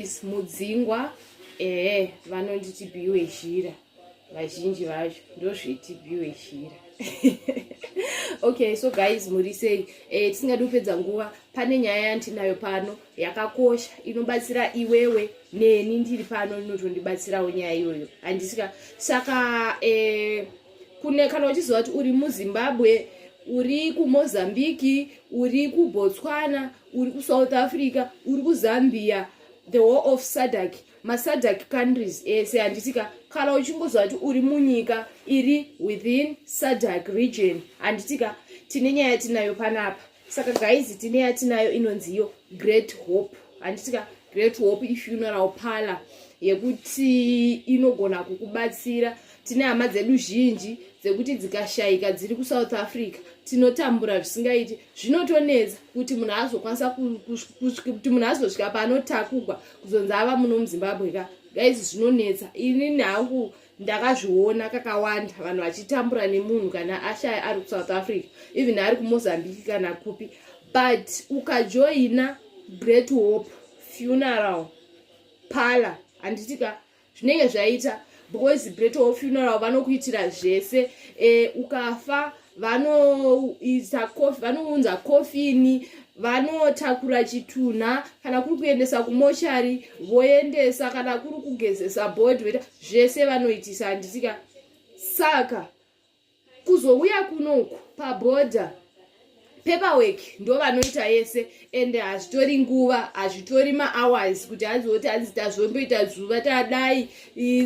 Yes, mudzingwa ehe vanonzi tibiwe zhira vazhinji vacho ndozviti biwe zhira okay so guys muri sei eh, tisingadi kupedza nguva pane nyaya yandinayo pano yakakosha inobatsira iwewe neni ndiri pano inotondibatsirawo nyaya iyoyo handisika saka eh, kune kana uchiziva kuti uri muzimbabwe uri kumozambiki uri kubotswana uri kusouth africa uri kuzambia the war of sadak masadak countries ese handitika kana uchingoziva kuti uri munyika iri within sadak region handitika tine nyaya yatinayo panapa saka gaizi tine yatinayo inonziyo great hope handitika great hope ifuneral parlor yekuti inogona kukubatsira tine hama dzedu zhinji dzekuti dzikashayika dziri kusouth africa tinotambura zvisingaiti zvinotonetsa kuti munhu azokwanisa kuti munhu azosvika paanotakugwa kuzonzi ava muno muzimbabwe ka gaizi zvinonetsa inini hangu ndakazviona kakawanda vanhu vachitambura nemunhu kana ashaya ari kusouth africa even ari kumozambique kana kupi but ukajoina great hope funeral pala handiti ka zvinenge zvaita because breto funeral vanokuitira zvese e, ukafa vanoisa kofi vanounza kofini vanotakura chitunha kana kuri kuendesa kumochari voendesa kana kuri kugezesa body veta zvese vanoitisa handisika saka kuzouya kunoku paboda paperwork ndo vanoita yese and hazvitori nguva hazvitori mahours kuti azoti anzi tazvomboita zuva tadai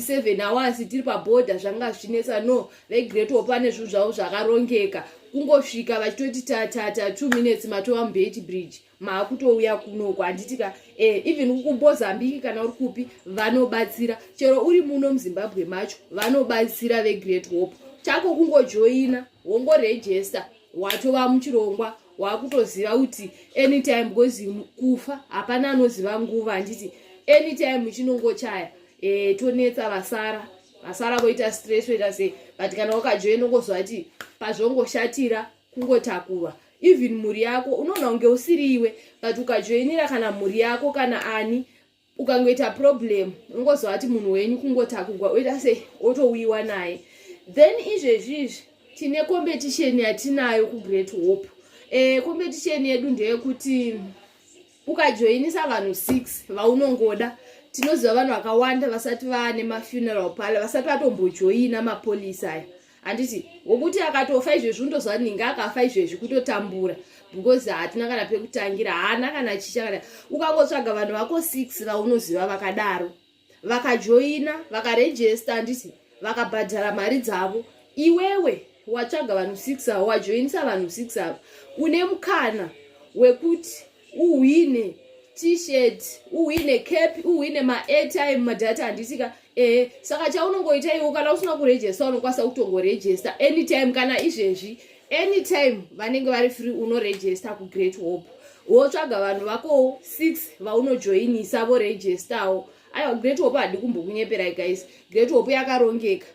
seven hours tiri paboda zvanga zvichinetsa no vegreat wopane zvinhu zvavo zvakarongeka kungosvika vachitoti tatata two minutes matova mubeti bridge maakutouya kunoko handiti ka eh, even kumozambique kana uri kupi vanobatsira chero uri muno muzimbabwe macho vanobatsira vegreat hope chako kungojoina wongorejesta watova muchirongwa wakutoziva kuti anytime because kufa hapana anoziva nguva handiti anytime chinongochaya e, tonetsa vasara vasara voita stress voita sei but kana wakajoina ungoziva kuti pazvongoshatira kungotakurwa even mhuri yako unoona kunge usiri iwe but ukajoinira kana mhuri yako kana ani ukangoita problem unongoziva kuti munhu wenyu kungotakugwa oita se otouyiwa naye then izvezvi izvi tine competition yatinayo kugreat hope e, competition yedu ndeyekuti ukajoinisa vanhu six vaunongoda tinoziva vanhu vakawanda vasati vane mafuneral pala vasati vatombojoina mapolisi aya handiti wokuti akatofa izvezvi undoziva ninge akafa izvezvi kutotambura because hatina kana pekutangira haana kana chicha kana ukangotsvaga vanhu vako six vaunoziva vakadaro vakajoina vakarejesta handiti vakabhadhara mari dzavo iwewe watsvaga vanhu six avo wajoinisa vanhu six avo une mukana wekuti uhwine t-shirt uhwine cap uhwine maairtime madata handisika ehe saka chaunongoita iwo kana usina kurejesta unokwanisa kutongorejesta anytime kana izvezvi anytime vanenge vari free unorejesta kugreat hope wotsvaga vanhu vakowo six vaunojoinisa vorejestawo aiwa great hope hadi kumbokunyeperai guys great hope yakarongeka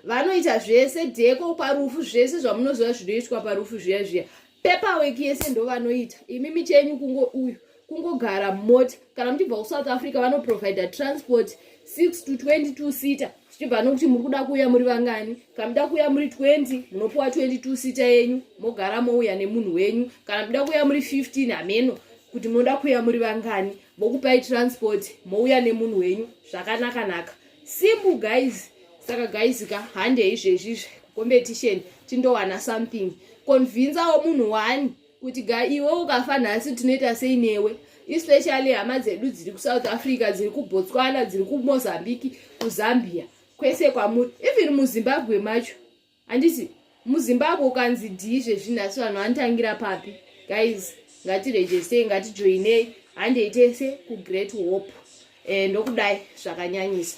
vanoita zvese deko parufu zvese zvamunoziva zvinoitwa parufu zviya zviya paperwork yese ndovanoita imi michenyu kungo uyu kungogara mota kana muchibva kusouth africa vanoprovider transport 6 to 22 sita zvichibva nokuti muri kuda kuuya muri vangani kana muda kuuya muri 20 munopiwa 22 sita yenyu mogara mouya nemunhu wenyu kana muda kuuya muri 15 hameno kuti munoda kuuya muri vangani vokupai transport mouya nemunhu wenyu zvakanaka naka simple guys saka guys ka hande izvezvizve competition tindowana something convincewo munhu wani kuti ga iwe ukafa nhasi tinoita sei newe especially hama dzedu dziri kusouth africa dziri kubotswana dziri kumozambique kuzambia kwese kwamuri even muzimbabwe macho handisi muzimbabwe ukanzi dhii zvezvinhu asi vanhu vanotangira papi guys ngatirejestei ngatijoinei handei tese kugreat hope eh, ndokudai zvakanyanyisa